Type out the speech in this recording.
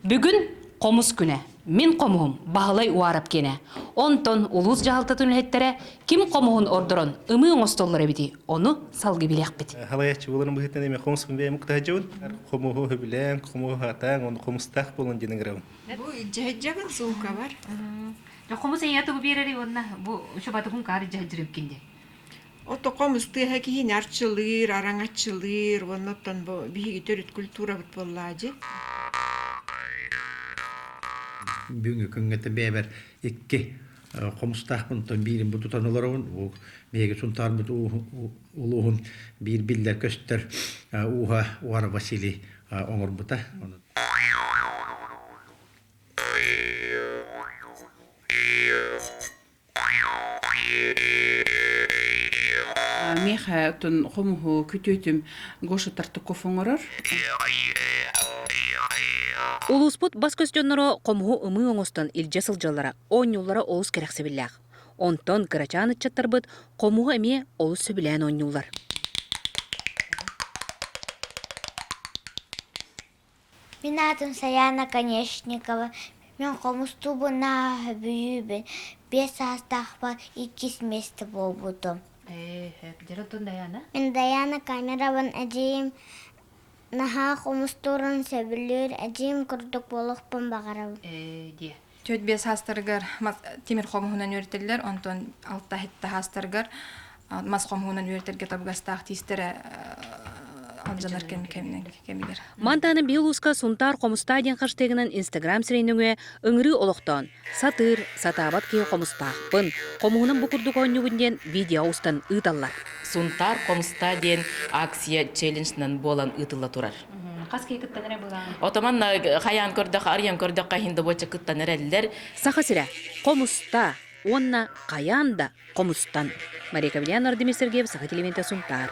Бүгүн хомус күнэ. Мин хомуһум Баһылай Уарап киэнэ. Онтон улуус дьаһалтатын үлэһиттэрэ ким хомуһун ордорон ымыы оҥостоллор эбити, ону салгы билиэхпит. Халайаччы боларын быһыттан эми хомус бэйэм кытаджыбын. Хомуһу хөбүлээн, хомуһу хатаан, оны хомустаах болон динаграбын. Бу дьэһэджагын суука бар. Хомус эйэ тугу биэрэри уонна бу чубатугун каар дьэһэджирим кинде. Отоком ыстыаһа киһини арчылыыр, араҥаччылыыр, оннуттан бу биһиги төрүт культурабыт буоллаа дьи. Бүгүҥҥү күҥҥэтэ бэйэбэр икки хомустаахпын оттон биирин бу тутан олоробун. Уу биһиги Сунтаарбыт улууһун биир биллэр көстөр ууһа Уара Василий оҥорбута. Миэхэ тун хомуһу күтүөтүм Гоша Тартаков оҥорор. Улууспут бас көстөннөрө хомуһу ымыы оҥостон илдьэ сылдьаллара оонньууллара олус кэрэхсэбиллээх. Онтон кырачаан ыччаттарбыт хомуһу эмиэ олус сөбүлээн оонньууллар. Мин аатым Сайаана Конешникова, мин хомустуубун наһаа сөбүлүүбүн, биэс саастаахпар иккис миэстэ буолбутум. Ээ, дьэр онтон Дайаана? Мин Дайаана камерабын эдьиийим наһаа хомустуурун сөбүлүүр, эдьиийим курдук буолуохпун баҕарабын. Ээ, диэ. Төрт биэс саастарыгар тимир хомуһунан үөрэтэллэр, онтон алта һитта саастарыгар мас хомуһунан үөрэтэргэ табыгастаах тиистэрэ алдьанар кэм кэминэн кэмигэр. Мантаны биһи улууска Сунтаар Хомустаа диэн хаштыгынан Инстаграм сиринүҥэ өҥүрүү олохтоон, сатыыр, сатаабат киһи хомустаахпын, хомуһунам бу курдук оонньуубун диэн видео устан ыыталлар. Сунтаар Хомустаа диэн акция челленджынан буолан ыытылла турар. Хас киһи кыттан эрэ былаан. Отоман хайаан көрдөх, арыйан көрдөххө иһин добуочча кыттан эрэллэр. Саха сирэ хомуста уонна хайаан да хомустан. Мария Ковлян, Владимир Сергеев, Саха телевидениетэ Сунтаар.